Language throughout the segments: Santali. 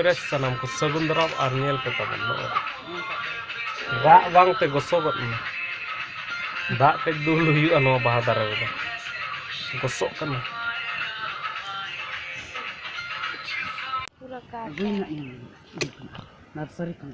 ᱨᱮ ᱥᱟᱱᱟᱢ ᱠᱚ ᱥᱟᱹᱜᱩᱱ ᱫᱟᱨᱟᱢ ᱟᱨ ᱧᱮᱞ ᱯᱮ ᱛᱟᱵᱚᱱ ᱱᱚᱜᱼᱚᱭ ᱫᱟᱜ ᱵᱟᱝᱛᱮ ᱜᱚᱥᱚᱜᱚᱫ ᱮᱱᱟ ᱫᱟᱜ ᱠᱟᱹᱡ ᱫᱩᱞ ᱦᱩᱭᱩᱜᱼᱟ ᱱᱚᱣᱟ ᱵᱟᱦᱟ ᱫᱟᱨᱮ ᱨᱮᱫᱚ ᱜᱚᱥᱚᱜ ᱠᱟᱱᱟ ᱱᱟᱨᱥᱟᱨᱤ ᱠᱷᱚᱱ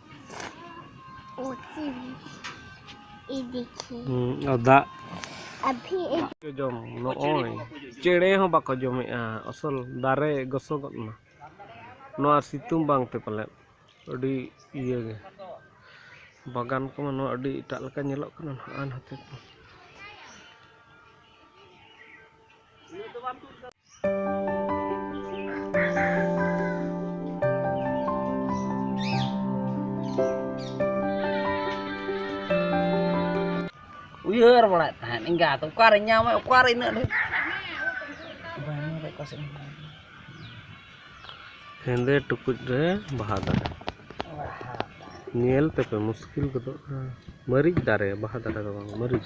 ᱫᱟᱜ ᱡᱚᱢ ᱱᱚᱜᱼᱚᱭ ᱪᱮᱬᱮ ᱦᱚᱸ ᱵᱟᱠᱚ ᱡᱚᱢᱮᱜᱼᱟ ᱟᱥᱚᱞ ᱫᱟᱨᱮ ᱜᱚᱥᱚᱜᱚᱜ ᱮᱱᱟ ᱱᱚᱣᱟ ᱥᱤᱛᱩᱝ ᱵᱟᱝᱛᱮ ᱯᱟᱞᱮᱫ ᱟᱹᱰᱤ ᱤᱭᱟᱹ ᱜᱮ ᱵᱟᱜᱟᱱ ᱠᱚᱢᱟ ᱱᱚᱣᱟ ᱟᱹᱰᱤ ᱮᱴᱟᱜ ᱞᱮᱠᱟ ᱧᱮᱞᱚᱜ ᱠᱟᱱᱟ ᱱᱟᱦᱟᱜ ᱱᱚᱛᱮ ᱠᱚ ᱩᱭᱦᱟᱹᱨ ᱵᱟᱲᱟᱭᱮᱫ ᱛᱟᱦᱮᱸᱫ ᱮᱸᱜᱟᱛ ᱚᱠᱟᱨᱮ ᱧᱟᱢᱟ ᱚᱠᱟᱨᱮ ᱤᱱᱟᱹᱜ ᱰᱷᱮᱨ ᱦᱮᱸᱫᱮ ᱴᱩᱠᱩᱡ ᱨᱮ ᱵᱟᱦᱟ ᱫᱟᱨᱮ ᱧᱮᱞ ᱛᱮᱯᱮ ᱢᱩᱥᱠᱤᱞ ᱜᱚᱫᱚᱜᱼᱟ ᱢᱟᱹᱨᱤᱪ ᱫᱟᱨᱮ ᱵᱟᱦᱟ ᱫᱟᱨᱮ ᱫᱚ ᱵᱟᱝ ᱢᱟᱹᱨᱤᱪ